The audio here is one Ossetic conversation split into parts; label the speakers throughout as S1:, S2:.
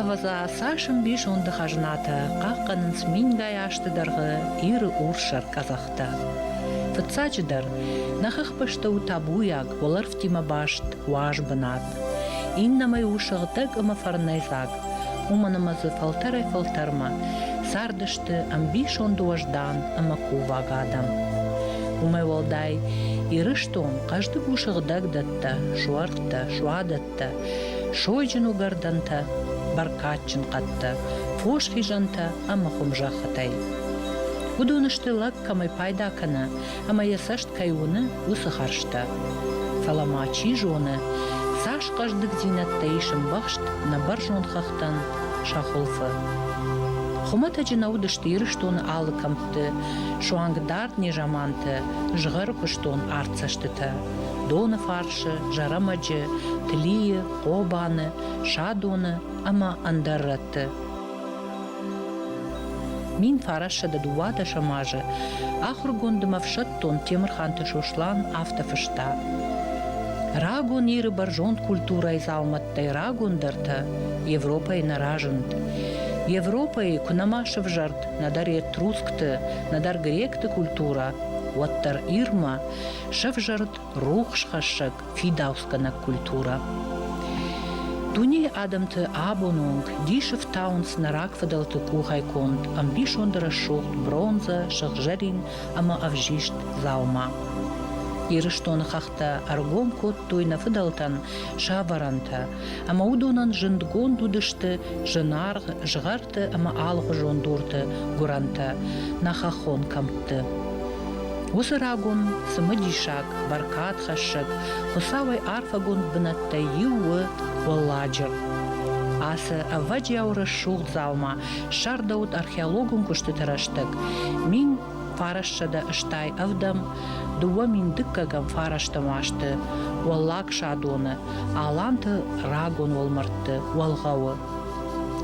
S1: Ӕвӕдза цас ӕмбисонды хӕзнатӕ хъахъхъӕнынц мингай азты дӕргъы Иры урссӕр къӕдзӕхтӕ. Фыццаджыдӕр, нӕ хыхбӕсты у табуйаг уӕлӕрвтимӕ баст уаз бынат. Иннӕмӕй у сыгъдӕг ӕмӕ фӕрнӕйдзаг. Уымӕн ӕмӕ дзы фӕлтӕрӕй-фӕлтӕрмӕ цардысты ӕмбисонды уӕздан ӕмӕ кувӕг адӕм. Уымӕй уӕлдай Ирыстон хъӕздыг у сыгъдӕгдӕттӕ, суӕрттӕ, суадӕттӕ, сойджын уыгӕрдӕнтӕ, бӕркадджын хъӕдтӕ, фос хизӕнтӕ ӕмӕ хуымзӕххытӕй. Уыдон сты лӕг кӕмӕй пайда кӕна, ӕмӕ йӕ цӕст кӕй уыны, уыцы хӕрзтӕ. Фӕлӕ ма чи зоны, цас хъӕздыгдзинӕдтӕ ис ӕмбӕхст нӕ бӕрзонд хӕхтӕн сӕ хуылфы. Хуымӕтӕджы нӕ уыдысты Ирыстоны алы кӕмтты суанг дард незаманты згъӕр куыстон арт цӕстытӕ, доны фарсы, зӕрӕмӕджы, Тлийы, Хъобаны, Садоны ӕмӕ ӕндӕр рӕтты. Мин фарӕссӕдӕ дыууадӕсӕм азы ахуыргондым ӕфсӕддон Темырханты Сослан афтӕ фыста: Рагон Иры бӕрзонд культурӕйы дзаумӕттӕй рагондӕртӕ Европӕйы нӕ разынд. Европӕйы куы нӕма сывзӕрд нӕдӕр этрускты, нӕдӕр гректы культурӕ, уӕддӕр Ирмӕ сӕвзӕрд рухсхӕссӕг фидауцгӕнӕг культурӕ. Дунейы адӕмты абоны онг дис ӕфтауынц нӕ рагфыдӕлты къухӕй конд ӕмбисонды рӕсугъд бронзӕ, сыгъзӕрин ӕмӕ ӕвзист дзаума. Ирыстоны хӕхтӕ ӕргом кодтой нӕ фыдӕлтӕн сӕ вӕрӕнтӕ, ӕмӕ уыдонӕн зындгонд уыдысты зынаргъ згъӕрты ӕмӕ алыгъуызон дурты гуырӕнтӕ, нӕ хӕххон кӕмтты. Уыцы рагон цымыдисаг, бӕркадхӕссӕг, Хуыцауӕй арфӕгонд бынӕттӕй иу у Уӕлладжыр. Ацы ӕвӕджиау рӕсугъд дзаума ссардӕуыд археологон куыстыты рӕстӕг. Мин фарассӕдӕ стай ӕвдӕм дыууӕ мин дыккӕгӕм фарӕстӕм уасты Уӕллаг Садоны, Аланты рагон уӕлмӕрдты уӕлгъӕуы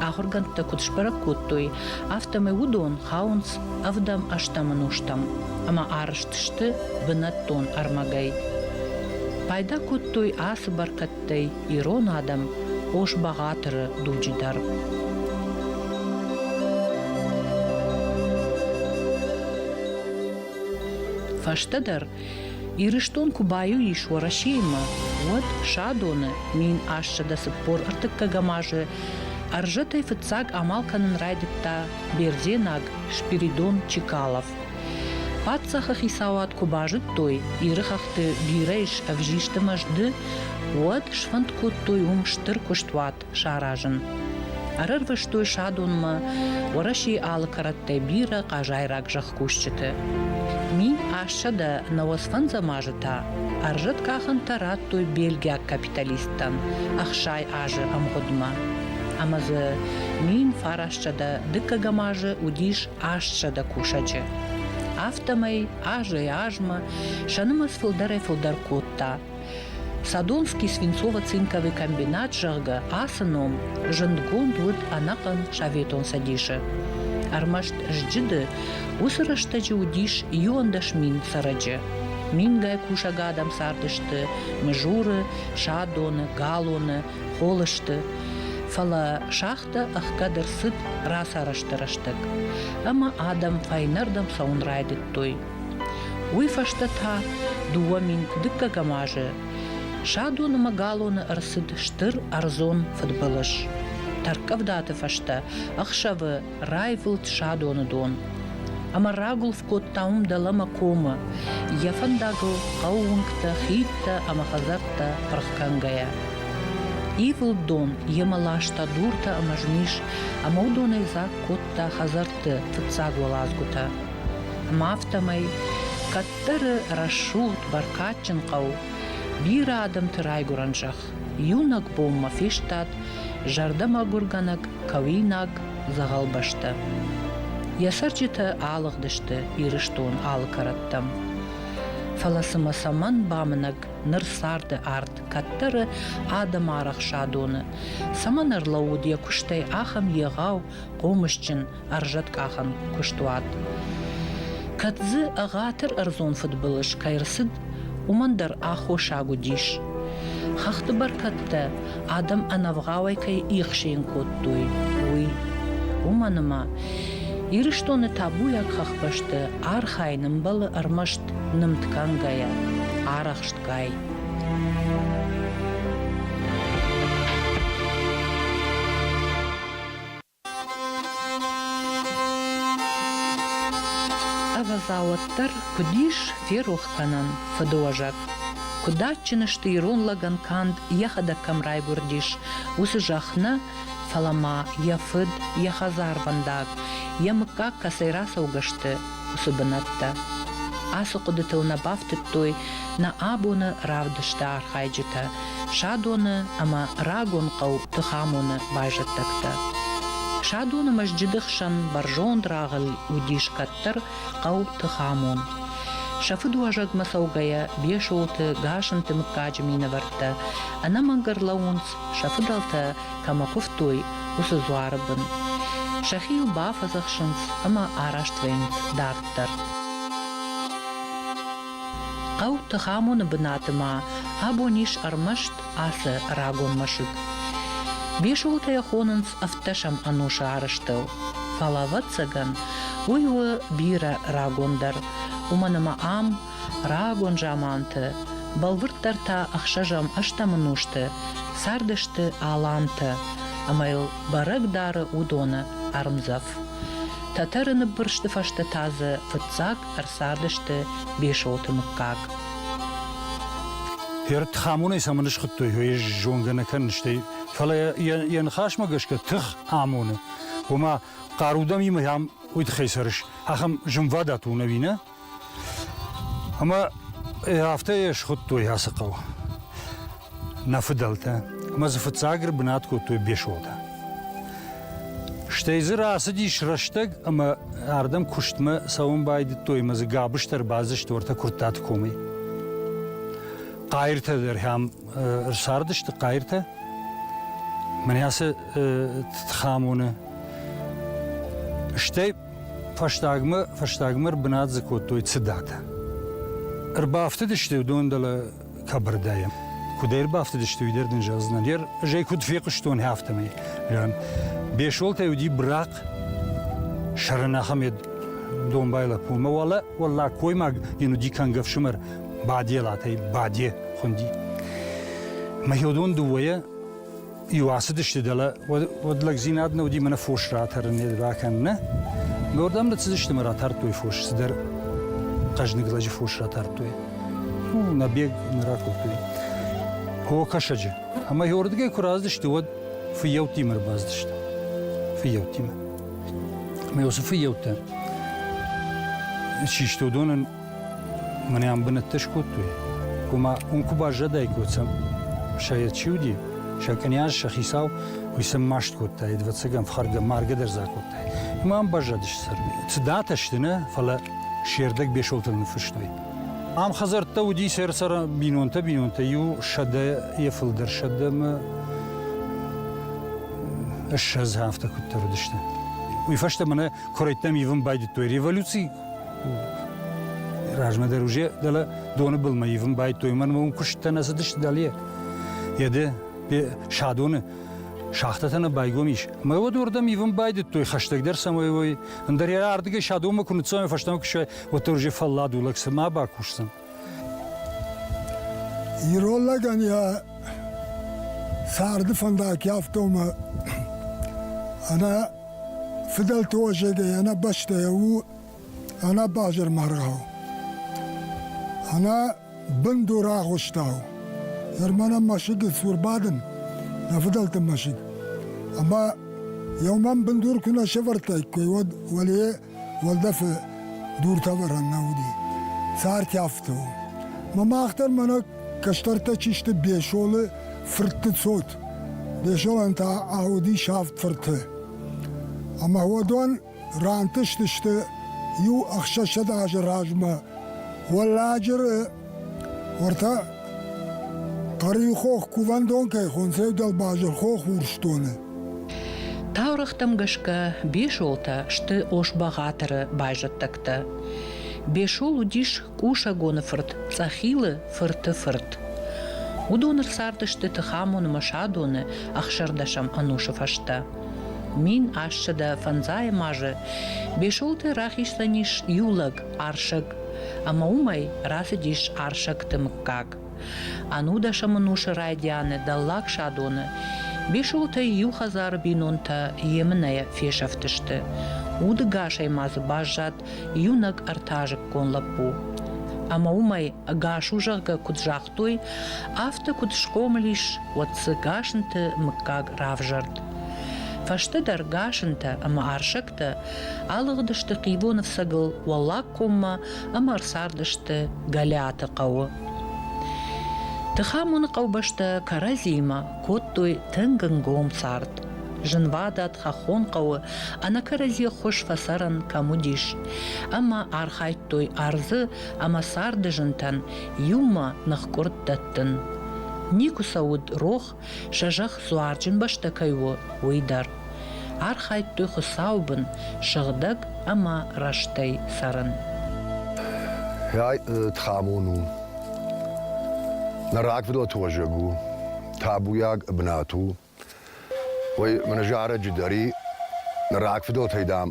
S1: ахуыргӕндтӕ куыд сбӕрӕг кодтой, афтӕмӕй уыдон хауынц Ӕвдӕм-ӕстӕм ӕнустӕм ӕмӕ арызт сты бынӕттон ӕрмӕгӕй. Пайда кодтой ацы бӕркӕдтӕй ирон адӕм Ос-Бӕгъатыры дуджы дӕр. Фӕстӕдӕр Ирыстон куы баиу ис Уӕрӕсеимӕ, уӕд Садоны мин ассӕдӕ цыппор ӕртыккӕгӕм азы ӕрзӕтӕй фыццаг амал кӕнын райдыдта бердзенаг Спиридон Чекалов. Паддзахы хицауад куы базыдтой, Иры хӕхты бирӕ ис ӕвзисты мӕзды, уӕд сфӕнд кодтой уым стыр куыстуат саразын. Ӕрӕрвыстой садонмӕ Уӕрӕсейы алы кӕрӕттӕй бирӕ хъазайраг зӕхкусджыты. Мин ӕссӕдӕ науӕсфӕндзӕм азы та ӕрзӕт къахӕнтӕ радтой бельгиаг капиталисттӕн ӕхсай азы ӕмгъуыдмӕ. Ӕмӕ дзы мин фарассӕдӕ дыккӕгӕм азы уыдис астсӕдӕ кусӕджы. Афтӕмӕй азӕй азмӕ сӕ нымӕц фылдӕрӕй фылдӕр кодта Садонский Свинцово-цинковый комбинат, зӕгъгӕ, ацы ном зындгонд уыд ӕнӕхъӕн Советон Цӕдисы. Ӕрмӕст сджыды уыцы рӕстӕджы уыдис иуӕндӕс мин цӕрӕджы. Мингай кусӕг адӕм цардысты Мызуры, Садоны, Галоны, Холысты. Фӕлӕ шахтӕ ӕхгӕд ӕрцыд рацарӕзты рӕстӕг. Ӕмӕ адӕм фӕйнӕрдӕм цӕуын райдыдтой. Уый фӕстӕ та дыууӕ мин куы дыккӕгӕм азы Садонымӕ галоны ӕрцыд стыр ӕрдзон фыдбылыз. Тӕрккъӕвдаты фӕстӕ ӕхсӕвы раивылд Садоны дон. Ӕмӕ рагуылф кодта уым дӕлӕмӕ комы, йӕ фӕндагыл хъӕуы уынгтӕ, хидтӕ ӕмӕ хӕдзӕрттӕ пырх кӕнгӕйӕ. Ивылд дон йемӕ ласта дуртӕ ӕмӕ змис, ӕмӕ уыдонӕй дзаг кодта хӕдзӕртты фыццаг уӕладзгуытӕ. Афтӕмӕй кӕддӕры рӕсугъд, бӕркадджын хъӕу, бирӕ адӕмты райгуырӕн зӕхх, иунӕг бонмӕ фестад зӕрдӕмӕгуыргӕнӕг кӕуинаг дзӕгъӕл бӕстӕ. Йӕ цӕрджытӕ алыгъдысты Ирыстон алы кӕрӕттӕм. Фӕлӕ цымӕ цӕмӕн бамынӕг ныр царды арт кӕддӕры адӕмы арӕхсадоны? Цӕмӕн ӕрлӕууыд йӕ куыстӕй ахӕм егъау, хъомысджын, ӕрзӕткъахӕн куыстуат. Кӕд дзы ӕгъатыр ӕрдзон фыдбылыз кӕй рцыд, уымӕн дӕр аххосаг уыдис. Хӕхты бӕркӕдтӕ адӕм ӕнӕвгъауӕй кӕй ихсийын кодтой, уый. Уымӕн ӕмӕ Ирыстоны табуйаг хӕхбӕсты архайын ӕмбӕлы ӕрмӕст нымд кӕнгӕйӕ, арӕхстгай. Ӕвӕдза, уӕддӕр куыд ис ферох кӕнӕн фыдыуӕзӕг? Куыд адджын сты ирон лӕгӕн канд йӕхӕдӕг кӕм райгуырдис, уыцы зӕхх нӕ, фӕлӕ ма йӕ фыд, йӕ хӕдзарвӕндаг, йӕ мыггаг кӕцӕй рацӕугӕ сты, уыцы бынӕттӕ. Ацы хъуыдытыл нӕ бафтыдтой нӕ абоны равдысты архайджытӕ, Садоны ӕмӕ рагон хъӕу Тыхамоны байзӕддӕгтӕ. Садоны мӕсджыды хсӕн бӕрзонд рагъыл уыдис кӕддӕр хъӕу Тыхамон. Сӕ фыдуӕзӕгмӕ цӕугӕйӕ Бесолты, Гасынты мыггаджы минӕвӕрттӕ ӕнӕмӕнг ӕрлӕууынц сӕ фыдӕлтӕ кӕмӕ куывтой, уыцы дзуары бын. Сӕхи йыл бафӕдзӕхсынц ӕмӕ араст вӕййынц дарддӕр. Хъӕу Тыхамоны бынаты ма абон ис ӕрмӕст ацы рагон мӕсыг. Бесолтӕ хонынц ӕвддӕсӕм ӕнусы арӕзтыл. Фӕлӕ, ӕвӕццӕгӕн, уый у бирӕ рагондӕр, уымӕн ӕмӕ ам Рагон заманты бӕлвырддӕр та ӕхсӕзӕм-ӕстӕм ӕнусты цардысты алантӕ ӕмӕ йыл бӕрӕг дары уыдоны ӕрмдзӕф. Тӕтӕры ныббырсты фӕстӕ та дзы фыццаг ӕрцардысты Бесоты мыггаг.
S2: Пердхамонӕй цӕмӕн схуыдтой, ой, ӕз зонгӕ нӕ кӕнын, стӕй, фӕлӕ йӕ ныхасмӕ гӕсгӕ тых амоны, ома хъарудӕмимӕ йӕм уый тыххӕй цӕрыс, ахӕм зынвадат у, ӕви нӕ? Ӕмӕ афтӕ йӕ схуыдтой ацы хъӕу нӕ фыдӕлтӕ. Ӕмӕ дзы фыццаг ӕрбынат кодтой Бесотӕ. Стӕй дзы рацыдис рӕстӕг ӕмӕ ардӕм куыстмӕ цӕуын байдыдтой ӕмӕ дзы гӕбыстӕ ӕрбацыдысты уӕртӕ Куырттаты комӕй. Хъайыртӕ дӕр хӕм ӕрцардысты хъайыртӕ. Мӕнӕ ацы Тхамоны. Стӕй Фӕстагмӕ, фӕстагмӕ ӕрбынат дзы кодтой цыдатӕ. Ӕрбафтыдысты уыдон дӕлӕ кабардӕйӕ. Куыд ӕрбафтыдысты, уый дӕр дын зӕгъдзынӕн. Ӕр, ӕз ӕй куыд фехъуыстон, афтӕмӕй. Жан. Бесолтӕй уыди брахъ, сӕрӕн ахӕм йӕ домбай лӕппу. Мӕ уӕлӕ уӕллаг коймаг йын уыди кӕнгӕ ӕфсымӕр Баделатӕй Баде хуынди. Мӕ хиодон дыууӕйӕ Иу ацыдысты дӕлӕ, уӕд лӕгдзинад нӕ уыди мӕнӕ фос ратӕрын бакӕнынӕ. Мӕ уырдӕм лӕдцыдысты мӕ ратардтой фос, цыдӕр хъӕзныг лӕджы фос ратардтой. Фу, набег нӕ ракодтой. О кӕсӕджы. Ӕмӕ уырдыгӕй куы раздысты, уӕд фыййӕуттимӕ ӕрбаздысты. Фыййӕуттимӕ. Мӕ уыцы фыййӕуттӕ систы уыдонӕн Мӕн ӕм бынӕттӕ скодтой, ома уым куы баззадаиккой, сӕ чи уыди, сӕ кънйаз, сӕ хицау, уый сӕм маст кодтаид, ӕвӕццӕгӕн фхӕргӕ, маргӕ дӕр дзы акодтаид. Ӕмӕ ам баззадысты сӕр. Цыдатӕ сты нӕ, фӕлӕ се рдӕг Бесолтан ныффыстой. Ам хӕдзӕрттӕ уыди сӕр-сӕр бинонтӕ, бинонтӕ иу сӕдӕ, йӕ фылдӕр сӕдӕ ӕмӕ ссӕдз афтӕ куыддӕр уыдысты. Уый фӕстӕ мӕнӕ куырӕйттӕм ивын байдыдтой революци, размӕ дӕр уже дӕлӕ доны былмӕ ивын байдтой. Мӕнмӕ уым куысттӕ нӕ цыдысты дӕле. Еде, садоны шахтӕтӕ нӕ байгом ис. Мӕ уӕд уырдӕм ивын байдыдтой, хӕстӕгдӕр цӕмӕй уой. Ӕндӕр йӕ ардыгӕй садонмӕ куы ныццӕуай, фӕстӕмӕ куы суай, уӕддӕр уже фӕллад у, лӕг цыма бакусдзӕн.
S3: Ирон лӕгӕн йӕ царды фӕндаг йафта ӕмӕ ӕнӕ фыдӕлты уӕзӕгӕй, ӕнӕ бӕстӕйӕ у ӕнӕ базармаргъау, ӕнӕ бындур агъуыстау. Ерманӕн мӕсыг и цур бадын, нӕ фыдӕлты мӕсыг. Ӕмӕ йӕ уымӕн бындур куы нӕ сӕвӕрдтаиккой, уӕд уӕле уӕлдӕфы дуртӕвӕрӕн нӕ уыди, цартӕфты у. Мӕ мах дӕр мӕнӕ кӕстӕртӕ чи сты Бесолы фыртты цот. Бесолӕн та ауыдис авд фырты. Ӕмӕ уӕдон рантыстысты иу ӕхсӕзсӕдз азы размӕ Уӕлладжыры Уӕртӕ Хъӕрийы хох кувӕндон кӕй хонцевдӕл базыр хох урсдоны.
S1: Таурӕгътӕм гӕсгӕ Бесолтӕ сты Ос-Бӕгъатыры байзӕддӕгтӕ. Бесол уыдис Къусӕгоны фырт Цъӕхилы фырты фырт. Уыдон ӕрцардысты Тыхамон ӕмӕ Садоны ӕхсӕрдӕсӕм ӕнусы фӕстӕ. Мин ассӕдӕ фӕндзайӕм азы Бесолты рахицӕн ис иу лӕг, Арсӕг. Ӕмӕ уымӕй рацыдис Арсӕгты мыггаг. Ӕнудӕсӕмӕнусы райдианы Дӕллаг Садоны Бесолтӕй иу хӕдзары бинонтӕ емынӕйӕ фесӕфтысты. Удыгасӕй ма дзы баззад иунӕг ӕртӕазыккон лӕппу. Ӕмӕ уымӕй, ӕгас у зӕгъгӕ куыд загътой, афтӕ куыд схъомыл ис, уӕд дзы Гасынты мыггаг равзӕрд. Фӕстӕдӕр Гасынтӕ ӕмӕ Арсӕгтӕ Алыгъдысты хивон ӕфцӕгыл Уӕллаг коммӕ ӕмӕ ӕрцардысты Гӕлиаты хъӕуы. Тыхамоны хъӕубӕстӕ кӕрӕдзиимӕ кодтой тынг ӕнгом цард. Зынвадат хӕххон хъӕуы ӕнӕкӕрӕдзи ххуыс фӕцӕрӕн кӕм уыдис. Ӕмӕ архайдтой ӕрдзы ӕмӕ царды зынтӕн иумӕ ныхкъуырд дӕттын. Никуы сӕ уыд рох сӕ зӕхх дзуарджын бӕстӕ кӕй у, уый дӕр. Архайдтой Хуыцауы бын сыгъдӕг ӕмӕ рӕстӕй цӕрын.
S4: Тхамон у. Нӕ рагфыдоты уӕзӕг у, табуйаг бынат у. Уый мӕнӕ зарӕджы дӕр и. Нӕ рагфыдотӕй, дам,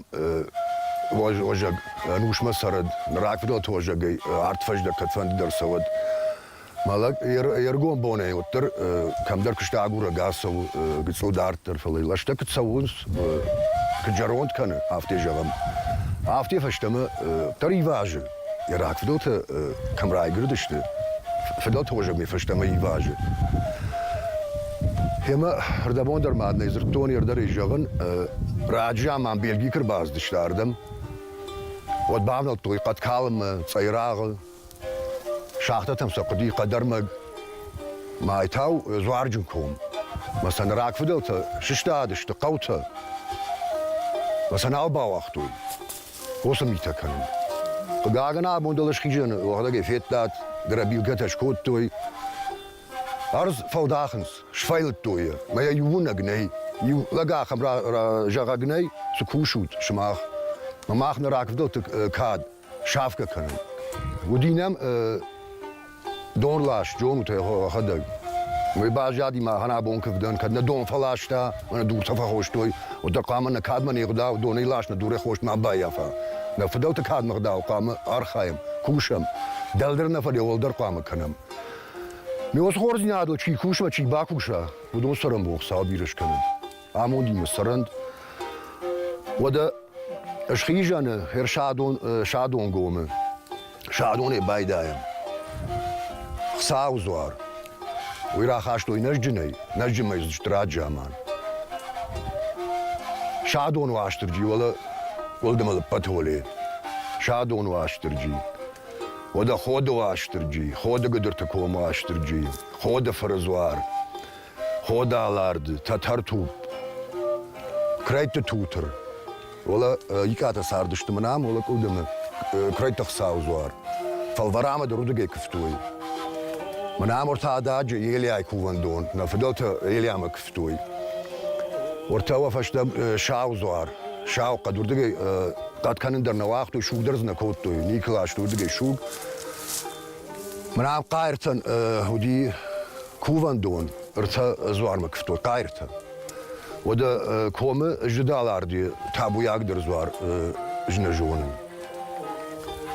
S4: уӕзӕг ӕнусмӕ цӕрӕд, нӕ рагфыдоты уӕзӕгӕй арт фӕздӕг кӕдфӕндыдӕр цӕуӕд. Мӕ лӕг йе ргом бонӕй уыддӕр кӕмдӕр куыста агурӕг ацӕуы гыцъу дарддӕр, фӕлӕ лӕстӕ куыд цӕуынц, куыд зӕронд кӕны, афтӕ зӕгъӕм. Афтӕ фӕстӕмӕ дӕр ивазы, йӕ рагфыдӕлтӕ кӕм райгырдысты, фыдӕлты уызӕгмӕ фӕстӕмӕ ивазы. Гъемӕ рдӕбон дӕр ма нӕ дзырдтон, ердӕрӕй зӕгъын, раджы заман Бельги куы рбацыдысты ардӕм, уӕд бавнӕлдтой хъӕд калынмӕ, цъайрагъы, Шахтӕтӕм сӕ хъуыди хъӕдӕрмӕг, майтау дзуарджын ком. Мӕ сӕ ныр рагфыдӕлтӕ сыстадысты хъӕутӕ. Мӕ сӕ нал бауагътой. Уыцы митӕ кӕнын. Хъыгагӕн, абон дӕлӕ схизӕны уӕгъдӕгӕй федтат, грабилгӕтӕ скодтой. Ӕрдз фӕлдахынц, сфӕйлыдтой йӕ. Мӕ йӕ иуынӕг нӕй. Иу лӕг ахӕм зӕгъӕг нӕй, цы кусут сымах? Мӕ мах нӕ рагфыдӕлты кад сафгӕ кӕнын. Уыди нӕм донлас, джонутӕ ӕхӕдӕг. Уый баззади мӕ гъанабон кывдӕн, кӕд нӕ дон фӕласта, мӕ дуртӕ фӕхостой, уӕддӕр хъуамӕ нӕ кадмӕ не гъдау донӕй лас, нӕ дурӕй хост ма баййафа. Нӕ фыдӕлты кадмӕ гъдау хъуамӕ архайӕм, кусӕм, дӕлдӕр нӕ фӕлӕ уӕлдӕр хъуамӕ кӕнӕм. Ме уацы хорздзинадыл чи куса, чи бакуса, уыдон цӕрӕнбон Хуыцау бирӕ скӕнӕд. Амондимӕ цӕрӕнт. Уӕдӕ схизӕны хер Садон, Садонгомы. Садонӕй байдайӕм. Хсау дзуар. Уый рахастой нӕзджынӕй. Нӕзджынмӕ зыдст раджаман. Садон Уастырджи, уӕлӕ Къуылдымы лыппӕты уӕле. Садон Уастырджи. Уӕдӕ Ходы Уастырджи, Ходы Гыдырты комы Уастырджи, Ходы фыры дзуар. Ходалард, Тӕтӕртупп, Крайдты тутыр, уӕлӕ икъатӕ цардысты мын ам, уӕлӕ къуылдымы, Крайдты Хсауы дзуар. Фӕлвӕрамы дырудыгӕй куывтой. Мӕн ӕмӕртӕ ададжы Елиайы кувӕндон, нӕ фыдӕлтӕ Елиамӕ куывтой. Уыртӕ уӕ фӕстӕ Сау дзуар, Сау хъӕд уырдыгӕй хъӕд кӕнын дӕр нӕ уагътой, суг дӕр дзы нӕ кодтой, никуы ластой уырдыгӕй суг. Мӕн ам Хъайыртӕн уыди Кувӕндон ӕртӕ дзуармӕ куывтой хъайртӕ. Уӕдӕ комы зыдаларди табуйагдӕр дзуар ӕз нӕ зонын.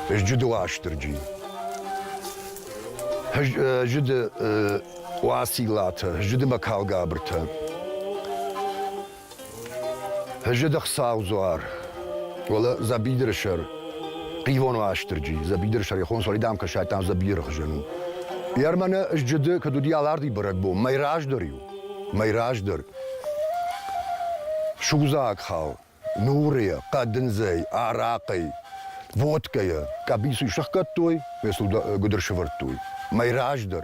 S4: Зджыды Уастырджи. Зыды Уациллатӕ, Зыды Мӕкалгабыртӕ. Фӕззӕг Саудзуар, уӕлӕ дзӕбидыры сӕр, хъивон у Астырджи. Дзӕбидыры сӕр ихон сӕрӕй дам кӕсайдтам дзӕбидыры хызӕн у. Йӕр мӕнӕ ызджыды, кӕд уыди аларди бӕрӕгбон, мӕй раздӕр иу, мӕй раздӕр. Судзаг хал, нурыйӕ, хъӕдындзӕй, арахъӕй, водкӕйӕ, къӕбицу сӕхгӕдтой, ме сыл гуыдыр сывӕрдтой. Мӕй раздӕр.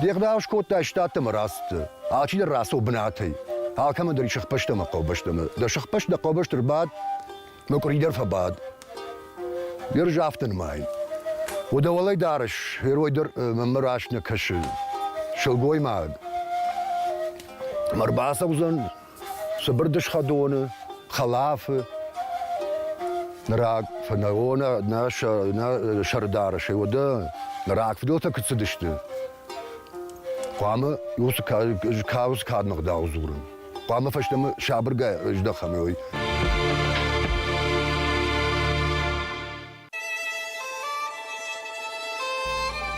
S4: Де гъдау скодтай штатты мырӕцты, алчидӕр рацу бынатӕй. Алкӕмӕн дӕр ис сыхбӕсты ӕмӕ хъӕубӕстӕмӕ. Дӕ сыхбӕст дӕ хъӕубӕсты рбад, мӕкъуыри дӕр фӕбад. Де рзафты нымайын. У дӕ уӕлӕй дарыс, герой дӕр мӕнмӕ раст нӕ кӕсы. Сылгоймаг. Ӕрбацӕудзӕн, Цыбыр дысхӕ доны, хӕлафы, рак фӕнӕрон нӕ сӕрдары сӕ уӕдӕ рагфыдӕлтӕ куыд цыдысты. Хъуамӕ иу кауз кадмӕ гъдау дзурын. Хъуамӕ фӕстӕмӕ сабыргай здӕхӕм, уый.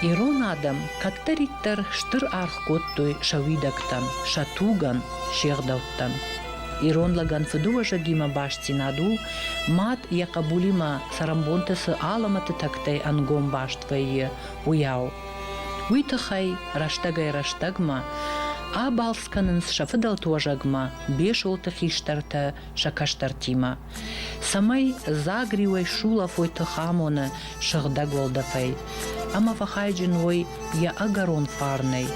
S1: Ирон адӕм кӕддӕриддӕр стыр аргъ кодтой сӕ уидӕгтӕн, сӕ тугӕн, се гъдӕуттӕн. Ирон лӕгӕн фыдыуӕзӕгимӕ бастдзинад у, мад йӕ хъӕбулимӕ цӕрӕнбонты цы алӕмӕты тӕгтӕй ӕнгом баст вӕййы, уыйау. Уый тыххӕй рӕстӕгӕй-рӕстӕгмӕ абалц кӕнынц сӕ фыдӕлты уӕзӕгмӕ, Бесолты хистӕртӕ сӕ кӕстӕртимӕ. цӕмӕй дзаг риуӕй сулӕфой тыхамоны сыгъдӕг уӕлдӕфӕй ӕмӕ фӕхайджын уой йӕ ӕгӕрон фарнӕй,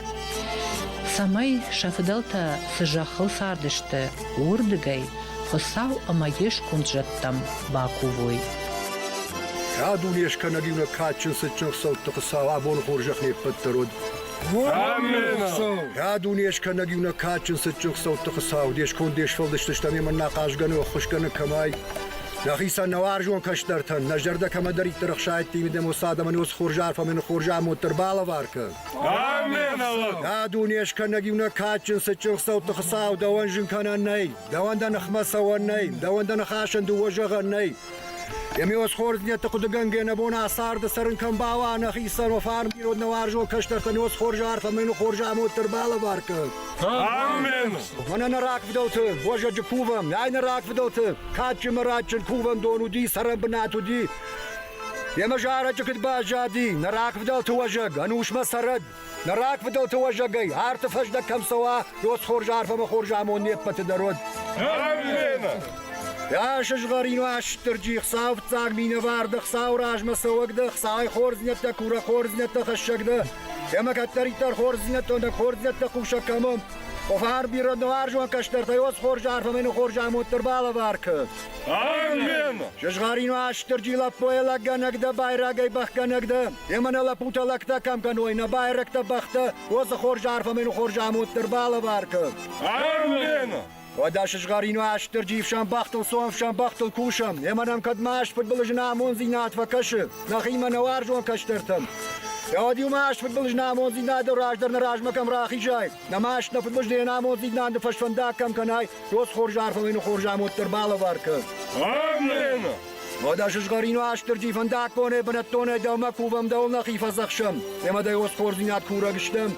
S1: цӕмӕй сӕ фыдӕлтӕ цы зӕххыл цардысты, уырдыгӕй Хуыцау ӕмӕ йе сконд зӕдтӕм бакувой.
S4: Кӕд уын ескӕнӕг иунӕг кадджын цытджын хсӕутты Хуыцау абоны хорзӕх не ппӕт дӕр уӕд, Кӕд унескӕнӕг иу нӕ кадджын цытджын хицӕутты хуыцау, де сконд, де сфӕлдыстыстӕн ӕмӕ нӕ ахъазгӕ нӕ ӕххуысгӕны кӕмӕй, нӕхицӕн, нӕ уарзон кӕстӕртӕн, нӕ зӕрдӕ кӕмӕдӕриддӕр ӕхсайдта имидӕм уыцы адӕмӕн уыцы хорз арфӕмӕн хорз амонд дӕр балӕвар кӕн. Кӕд унескӕнӕг иу нӕ кадджын цытджын хицӕутты хуыцау дӕуӕн зын кӕнӕн нӕй, дӕуӕн дӕ ныхмӕ цӕуӕн нӕй, дӕуӕн дӕ ныхасӕн дыууӕ зӕгъӕн нӕй, Еми осхорзнӕтти хъудугӕнгӕ нӕ бон ӕ царды цӕрун кӕм бауа, нӕхицӕн уо фарнирод нӕ уарзон кӕстӕртӕн осхорза арфӕ мӕн хорзамод дӕр балӕвар кӕн. Амен! Фӕнӕ нӕ рагфидӕлты, бозӕджы кувӕм, ай нӕ рагфидӕлты, кадджын мӕраччын кувӕн дон уди, цӕрӕн бынат уди. Емӕ зарӕджы куыд баззади, нӕ рагфидӕлты уӕзӕг, ӕнусмӕ цӕрӕд, Нӕ рагфыдӕлты уӕзӕгӕй арты фӕздӕг кӕм цӕуа, рос хорз арф ӕмӕ хорз амонд не ппӕты дӕр уӕд. Йа сызгъӕрин Уастырджи, Хуцау фиццаг минӕвар дӕ, Хуцау размӕ цӕуӕг дӕ, Хуцай хорздзийнӕдтӕ, курӕ хорздзийнӕдтӕ хӕссӕг дӕ. Кемӕ кӕддӕриддӕр хорздзийнӕдтӕ, хорздзийнӕдтӕ хъусӕг кӕмӕ. Офар бирӕ нуарзон кӕстӕртӕй ос хорз арф ӕмӕ хорз амонд дӕр балӕвар кӕ. Амен! Сызгъӕрин Уастырджи лӕппойӕ лӕггӕнӕг дӕ, байрагӕй бӕхгӕнӕг дӕ. Емӕ нӕ лӕппутӕ лӕгтӕ кӕм кӕной, нӕ байрӕгтӕ, бӕхтӕ, уоцы хорз арфӕмӕйну хорз амуддӕр балӕвар кӕн. Ӕрлена! Уӕдӕ сызгъӕрину астырджи ифсӕн бӕхтыл, цонфсӕн бӕхтыл кусӕм, емӕ нӕм кӕд маст фыдбылыз нӕ амонддзинад фӕкӕсы, нӕхимӕ нӕ уарзон кӕстӕртӕм. Гъӕд-иу маст фыдбылыз нӕ амонддзинадыл раздӕр нӕ размӕ кӕм рахизай, нӕ маст нӕ фыдбылыз не амонддзинады фӕсфӕндаг кӕм кӕнай, уоцы хорз арфӕмӕйну хорз амуд дӕр балӕвар кӕн. Ӕрлена! Уӕдӕ сызгъӕрин Астырджи фӕндагбоне бынӕттонӕй дӕумӕ кувӕм дӕу нӕхи фӕдзӕхсӕм, емӕ дӕ уосхордзинад курӕг стӕм.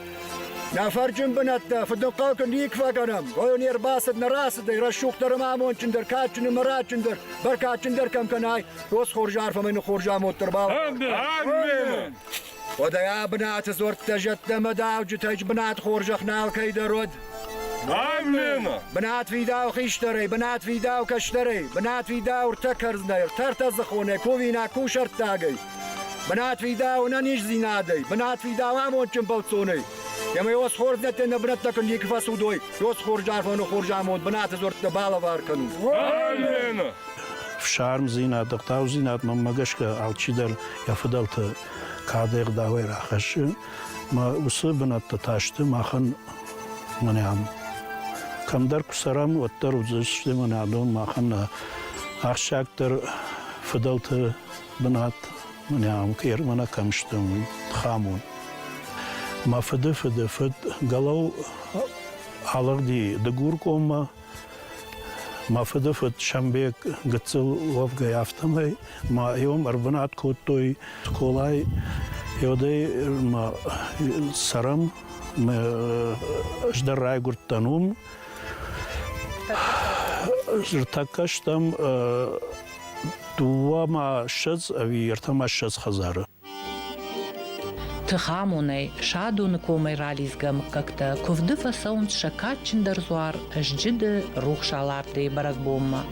S4: Нӕ фӕрджын бынӕттӕ фыднхъӕлты никуы фӕгӕнӕм, гъо не рбацыд, нӕ рацыдӕй, рӕсугъддӕр ӕмӕ амондджындӕр, кадджын ӕмӕ рӕдджындӕр, бӕркадджындӕр кӕм кӕнай, уосхорз арфӕмӕ ныххорз амонд дӕр бау. Амин! Уӕдӕ ӕ бынаты дзуӕрттӕ зӕдтӕмӕ дауджытӕй бынат хорзӕх нал кӕйдӕр уӕд. Аммена! Бынат фидау хистӕрӕй, бынат фидау кӕстӕрӕй, бынат фидау ртӕ кӕрдзынӕй, ртӕ ртӕдзыхонӕй, кувинаг кусӕрттагӕй, бынат фидау ӕнӕниздзинадӕй, бынат фидау амондджын бӕлццонӕй. Ема ёсхорднӕттӕй нӕ бунӕттӕ кун никки фӕцудой, ёсхорз арфӕну хорз амонд бунати дзуӕрттӕ балӕвар кӕнун. Аммена!
S5: Фсармдзинад, ӕгъдаудзинад мӕммӕ гӕсгӕ алчидӕр Йӕ фыдӕлты кадӕй ӕгъдауӕй рахӕссын, мӕ уыцы бынӕттӕ та сты махӕн мӕнӕн. Кӕмдӕр куы цӕрӕм, уӕддӕр уыдзысты мӕнӕ адон махӕн ахсджиагдӕр фыдӕлты бынат мӕнӕ Кермӕна кӕм сты, уый хам у. Мӕ фыды фыды фыд Галау алыгъди Дыгуркоммӕ, Мӕ фыдыфыд Сӕмбег гыццыл уӕвгӕй, афтӕмӕй мӕ иом ӕрбынат кодтой скъолайы. Йодӕй мӕ цӕрӕм, ӕз дӕр райгуырдтӕн уым. Ӕртӕккӕ стӕм дыууӕ ӕмӕ ссӕдз ӕви ӕртӕ ӕмӕ ссӕдз хӕдзары.
S1: Тыхамонӕй, Садоны комӕй ралидзгӕ мыггӕгтӕ куывды фӕцӕуынц сӕ кадджындӕр дзуар Сджыды рухс алардыйы бӕрӕгбонмӕ.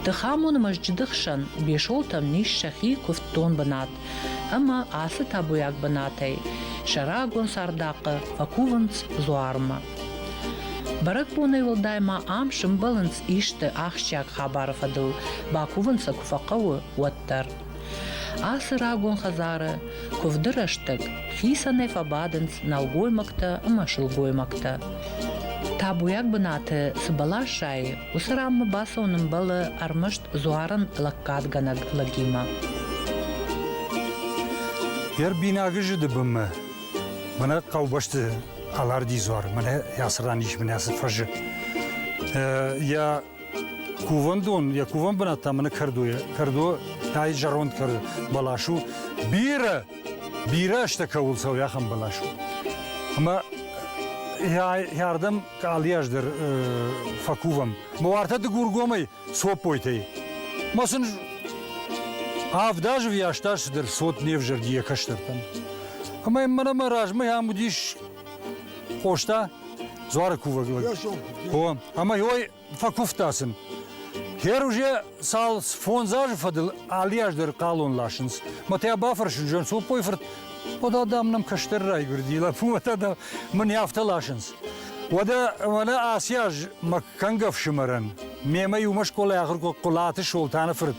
S1: Тыхамоны мӕсджыды хсӕн Бесолтан ис сӕхи куывддон бынат ӕмӕ ацы табуйаг бынатӕй сӕ рагон цардахъхъы фӕкувынц дзуармӕ. Бӕрӕгбонӕй уӕлдай ма ам сымбӕлынц исты ахсджиаг хабары фӕдыл, бакувын сӕ куы фӕхъӕуы, уӕддӕр. Ацы рагон хӕдзары куывды рӕстӕг хицӕнӕй фӕбадынц нӕлгоймӕгтӕ ӕмӕ сылгоймӕгтӕ. Табуйаг бынаты цы бӕлас сайы, уыцы ранмӕ бацӕуын ӕмбӕлы ӕрмӕст дзуарын лӕггадгӕнӕг лӕгимӕ.
S2: Йӕ рбинагы зыды бынмӕ мӕнӕ хъӕубӕсты аларди дзуар, мӕнӕ ацы ран ис мӕнӕ ацы фӕзы. Йӕ Кувӕндон, йӕ кувӕн бынат та мӕнӕ кӕрдо йӕ. Кӕрдо тайы зӕронд кӕрдо бӕлас у. Бирӕ, бирӕ азтӕ кӕуыл цӕуы, ахӕм бӕлас у. Ӕмӕ ӕрдӕм къалийы аз дӕр фӕкувӕм. Мӕ уартӕ дыгургомӕй цоппойтӕй. Мӕ сын авд азы вйас та цыдӕр цот не взӕрди йӕ кӕстӕртӕн. Ӕмӕ мӕнӕ мӕ размӕ ам уыдис Къоста дзуары кувӕг лӕг. Хо, ӕмӕ йой фӕкуывта сын. Хер уже цал фондз азы фӕдыл алыаз дӕр хъалон ласынц. Мӕтӕ бафӕрсын зӕн Сопой фырт, Къода, дам, нӕм кӕстӕр райгуырди, лӕппумӕтӕ, дам, мын йӕ афтӕ ласынц. Уӕдӕ мӕнӕ ацы аз мӕ кӕнг ӕфсымӕрӕн, мемӕ иумӕ скъолайы ахуыр кодта Хъуылаты Солтаны фырт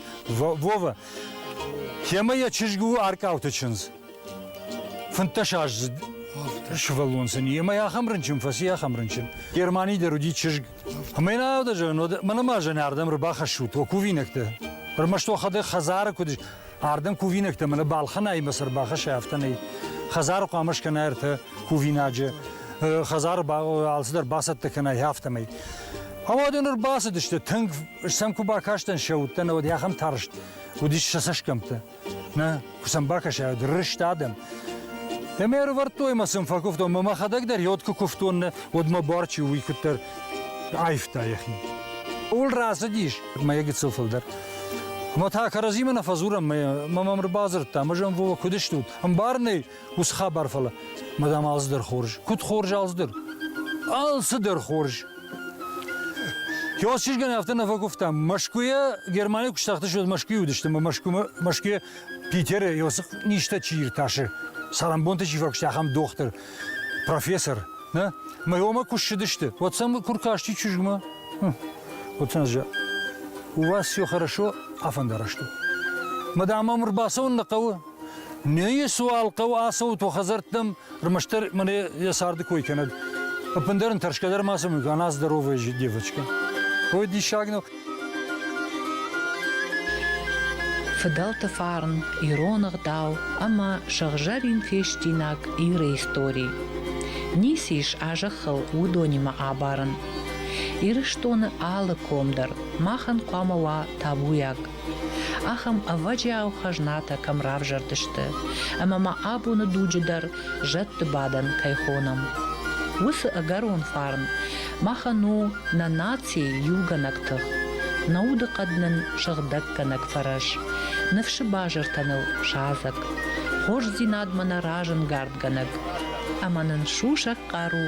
S2: Вова. Темӕ йӕ чызг у Аркъауты чындз. Фынддӕсаздзыд сывӕллон сын и, ӕмӕ ахӕм рынчын фӕци, ахӕм рынчын. Германийы дӕр уыди чызг. Ӕмӕ йын аудӕ зӕгъын, мӕнӕ ма зӕн ардӕм ӕрбахӕссут уӕ кувинӕгтӕ. Ӕрмӕст уӕхӕдӕг хӕдзары куыд ардӕм кувинӕгтӕ мӕнӕ балхӕнӕимӕ цы ӕрбахӕссай, афтӕ нӕй. Хӕдзары хъуамӕ скӕнай ӕртӕ кувинаджы, хӕдзары алцыдӕр бацӕттӕ кӕнай, афтӕмӕй. Ӕмӕ уӕд ын ӕрбацыдысты, тынг сӕм куы бакастӕн сӕ удтӕ, нӕ уӕд ахӕм тарст уыдис сӕ цӕсгӕмттӕ. Нӕ, куы сӕм бакӕсай, рыст адӕм. Ӕмӕ ӕрывӕрдтой мӕ сын фӕкуывтон, мӕ мӕхӕдӕг дӕр йод куы куывтон, нӕ, уӕд мӕ барчи уый куыддӕр аивта йӕхи. Ууыл рацыдис мӕ гыццыл фылдӕр. Мӕ та кӕрӕдзимӕ нӕ фӕдзурӕм, мӕ мӕм ӕрбадзырдта, ӕмӕ зӕм, Вова, куыд стут? Ӕмбарын ӕй, Ус хабар фӕлӕ, мадам, алцыдӕр хорз. Куыд хорз алцыдӕр? Алцыдӕр хорз. Кӕуат чызгӕн афтӕ нӕ фӕкуывтам. Мӕскуыйӕ Германийы куы стахтысты, уӕд Мӕскуыйы уыдыстӕм, Мӕскуымӕ, Мӕскуыйӕ Питеры Иосиф низтӕ чи иртасы, цӕрӕнбонты чи фӕкуыста, ахӕм дохтыр, профессор, нӕ? Мӕйомӕ куы ссыдысты, уӕд сӕм куы ркасти чызгмӕ. Хм, вот у нас же. У вас все хорошо, афондарашто. Мадам, ам ӕрбацӕуын нӕ хъӕуы. Ме суал хъӕуы ацӕут уӕ хӕдзӕрттӕм, ӕрмӕстдӕр мӕ йӕ царды кой кӕнӕд. Ӕппындӕр ын тӕрсгӕ дӕр ма сӕм кӕна здоровая девочка. Ой, диссаг нӕу.
S1: Фыдӕлты фарн, ирон ӕгъдау ӕмӕ сыгъзӕрин фестинаг Иры истори. Ницы ис а зӕххыл уыдонимӕ абарын. Ирыстоны алы ком дӕр махӕн хъуамӕ уа табуйаг. Ахӕм ӕвӕджиау хӕзнатӕ кӕм равзӕрдысты ӕмӕ ма абоны дуджы дӕр зӕдты бадӕн кӕй хонӕм, уыцы ӕгӕрон фарн махӕн у нӕ нацийы иугӕнӕг тых, нӕ удыхъӕд нын сыгъдӕггӕнӕг фӕрӕз, ныфсы базыртӕ ныл садзӕг, хорздзинадмӕ нӕ разӕнгардгӕнӕг ӕмӕ нын сусӕг хъару